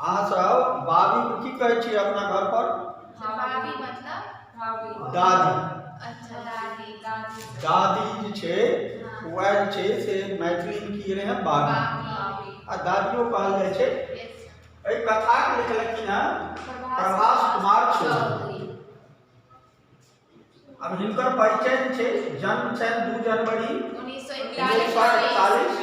अहाँ सब बाबी को की कहै छियै अपना घर पर बाबी मतलब दादी अच्छा दादी दादी दादी जे छै हाँ। वह जे छै से मैथिली में की रहे हैं बाबी आ दादियो कहल जाइ छै एहि कथा के लिखलखिन हैं प्रभास कुमार चौधरी अब हिनकर परिचय छै जन्म छनि दू जनवरी उन्नीस सौ इकतालीस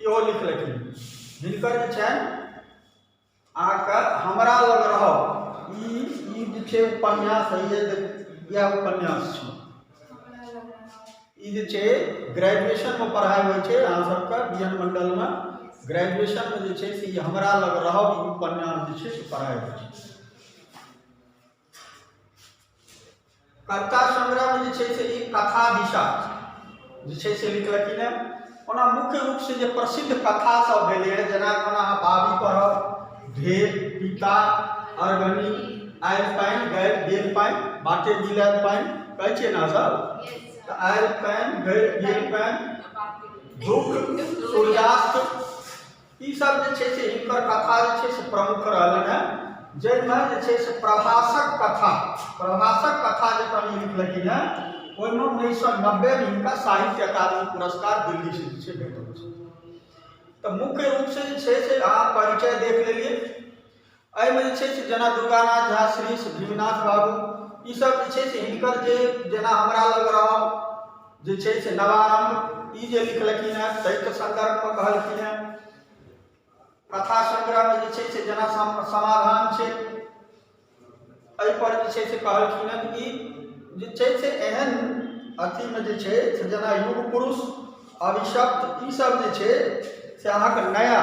इहो लिखलखिन हिनकर जे छनि अहाँके हमरा लग रहब ई ई जे छै उपन्यास होइए तऽ इएह उपन्यास छै ई जे छै ग्रेजुएशनमे पढ़ाइ होइ छै अहाँ सबके बी एन मण्डलमे ग्रेजुएशनमे जे छै से ई हमरा लग रहब ई उपन्यास जे छै से पढ़ाइ होइ छै कविता संग्रहमे जे छै से ई कथा दिशा जे छै से लिखलखिन हेँ ओना मुख्य रूपसँ जे प्रसिद्ध कथासभ भेलै हेँ जेना कोना अहाँ बाबी पढ़ब ढेर पिता अरगनी आयल पानि गैल गेल पानि बाटे गिलायल पानि कहै छियै ने सर तऽ आयल पानि गैल गेल पानि धूप सूर्यास्त ई सब जे छै से हिनकर कथा जे छै से प्रमुख रहलन है जाहिमे जे छै से प्रभासक कथा प्रभासक कथा जे कवि लिखलखिन है ओहिमे उन्नैस सए नब्बेमे हिनका साहित्य अकादमी पुरस्कार दिल्ली से जे छै भेटल छै तऽ मुख्य रूपसँ जे छै से अहाँ परिचय देख लेलियै एहिमे जे छै से जेना दुर्गानाथ झा श्री भीमनाथ बाबू ईसभ जे छै से हिनकर जे जेना हमरा लग रहल जे छै से नवारम्भ ई जे लिखलखिन हेँ ताहिके सन्दर्भमे कहलखिन हेँ कथा संग्रहमे जे छै से जेना समाधान छै एहिपर जे छै से कहलखिन हेँ कि जे छै से एहन अथीमे जे छै से जेना युग पुरुष अभिशप्त ईसभ जे छै से अहाँके नया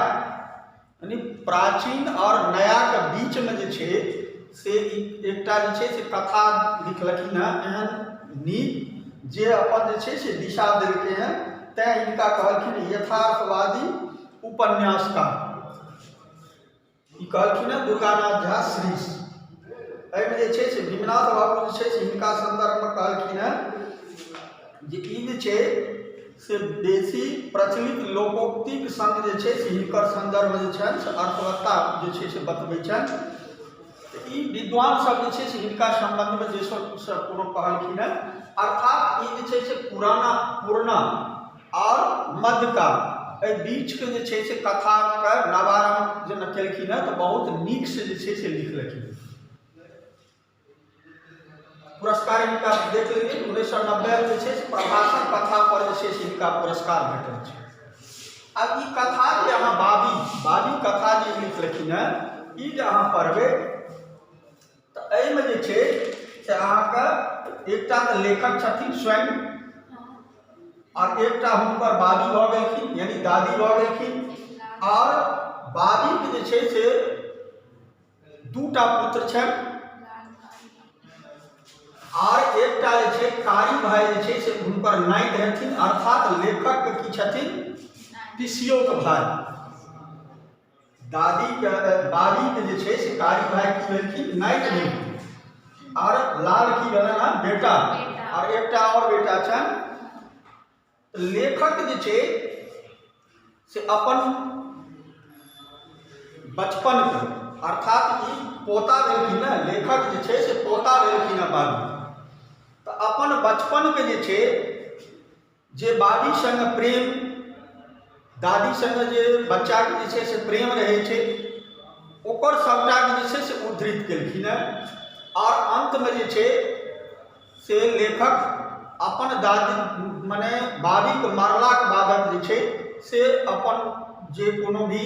यानि प्राचीन आओर नयाके बीचमे जे छै से एकटा जे छै से कथा लिखलखिन हँ एहन नीक जे अपन जे छै से दिशा देलकै हँ तैँ हिनका कहलखिन यथार्थवादी उपन्यासकार ई कहलखिन हँ दुर्गानाथ झा श्रीश एहिमे जे छै से विमनाथ बाबू जे छै से हिनका सन्दर्भमे कहलखिन हँ जे ई जे छै से बेसी प्रचलित लोकोक्तिक सङ्ग जे छै से हिनकर सन्दर्भ जे छनि से अर्थवत्ता जे छै से बतबै छनि तऽ ई विद्वानसभ जे छै से हिनका सम्बन्धमे जे सब सब कोनो कहलखिन हेँ अर्थात ई जे छै से पुराना पुरना आओर मध्यकाल एहि बीचके जे छै से कथाके नवारम्भ जेना केलखिन हेँ तऽ बहुत नीकसँ जे छै से लिखलखिन पुरस्कार हिनका देख लेलियै उन्नैस सए नब्बेमे जे छै से प्रभाषण कथा पर जे छै से हिनका पुरस्कार भेटल छै आब ई कथा जे अहाँ बाबी बाबी कथा जे लिखलखिन हेँ ई जे अहाँ पढ़बै तऽ एहिमे जे छै से अहाँके एकटा तऽ लेखक छथिन स्वयं आओर एकटा हुनकर बाबी भऽ गेलखिन यानी दादी भऽ गेलखिन आओर बाबीके जे छै से दूटा पुत्र छनि आर एकटा जे छै कारी भाई जे छै से हुनकर नाइत हेथिन अर्थात लेखक की छथिन पिसियोक भाई दादी के बाबी के जे छै से कारी भाई की भेलखिन नाइत भेलखिन आर लाल की भेलन हन बेटा आर एकटा और बेटा छनि लेखक जे छै से अपन बचपनके अर्थात ई पोता भेलखिन ने लेखक जे छै से पोता भेलखिन हँ बाबू तऽ अपन बचपनके जे छै जे बाबी सङ्गे प्रेम दादी सङ्गे जे बच्चाके जे छै से प्रेम रहै छै ओकर सभटाके जे छै से उद्धृत केलखिन हँ आओर अन्तमे जे छै से लेखक अपन दादी मने बाबीके मरलाके बादक जे छै से अपन जे कोनो भी